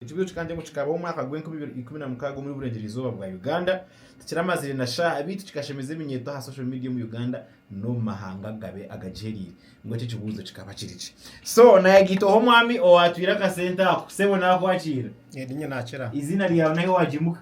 Ekibuzo kikaba nikyo ngu kikabaho omwaka gw'enkumi ibiri ikumi na mukaaga omuri Burengyereizooba bwa Uganda, tikiramazire na shaaha beitu kikashemeza eminyeeto aha social media omu Uganda n'omu mahanga agabe agagihereire. Ngu ekyo ekibuzo kikaba kiri ki? So nayegaitaho omwami owaatwire akasente ako. Sebo naakwakira. Erinye naakira. Eiziina ryaawe n'ahi waagimuka.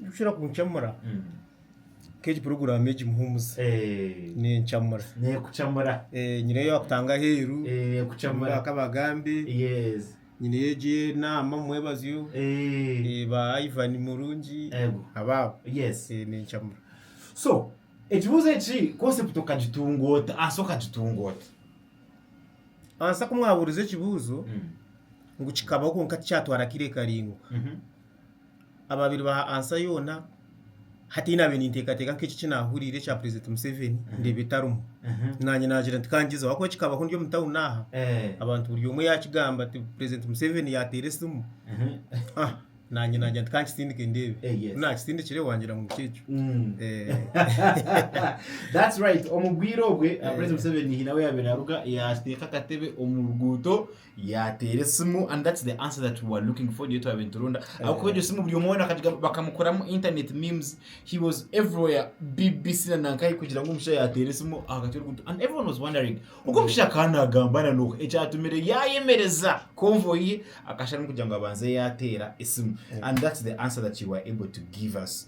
Ekirikushobora kuncamura nk'egi puroguraamu egi Muhumuza Eh, nencamura. nekucamura Eh, Nyineyo yaakutanga aheeru, Eh, nyineyo ekucamura yaakabagambe, yes nyineyo egi enaama mumwebazyo, Eh, eh, ba Ivan Murungi, Ego. abaabo. yes Eh, Nencamura. so ekibuuzo eki concept okagitunga ota asa okagitunga ota Ansa ku mwabuuriza ekibuuzo, ngu kikabaho kwonka tikyatwara akaire karaingwa. Mhm. ababire baha answer yoona hati nyowe nabiire ninteekateeka nka eki eki naahuriire ekya president Museveni ndeeba etarimu naanye naagira nti kangyezeho ahabw'okuba ekikabaho ndi omu town aha abantu buri omwe yaakigamba ati president Museveni yaateera esimu ah naanye naagira nti kankisindike ndeebe Eh, yes. ku naakisindikire waagira ngu nikyo ekyo That's right. Omu bwire obwe, Eh. President Museveni hiine ahu yaabaire aruga, yateeka akatebe omu ruguuto, Yateera esimu and that's the answer that we were looking for niyo twabaire nituronda ahabw'okuba egyo simu buri omwe weena akagigamba bakamukoramu internet memes he was everywhere BBC na nankahi kugira ngu omushaija yateera esimu aha kati oruguuto and everyone was wondering ogu omushaija akaba naagamba na n'oha ekyatumire yaayemereza convoy ye akashaarumu kugira ngu abanze yaateera esimu and that's the answer that you were able to give us.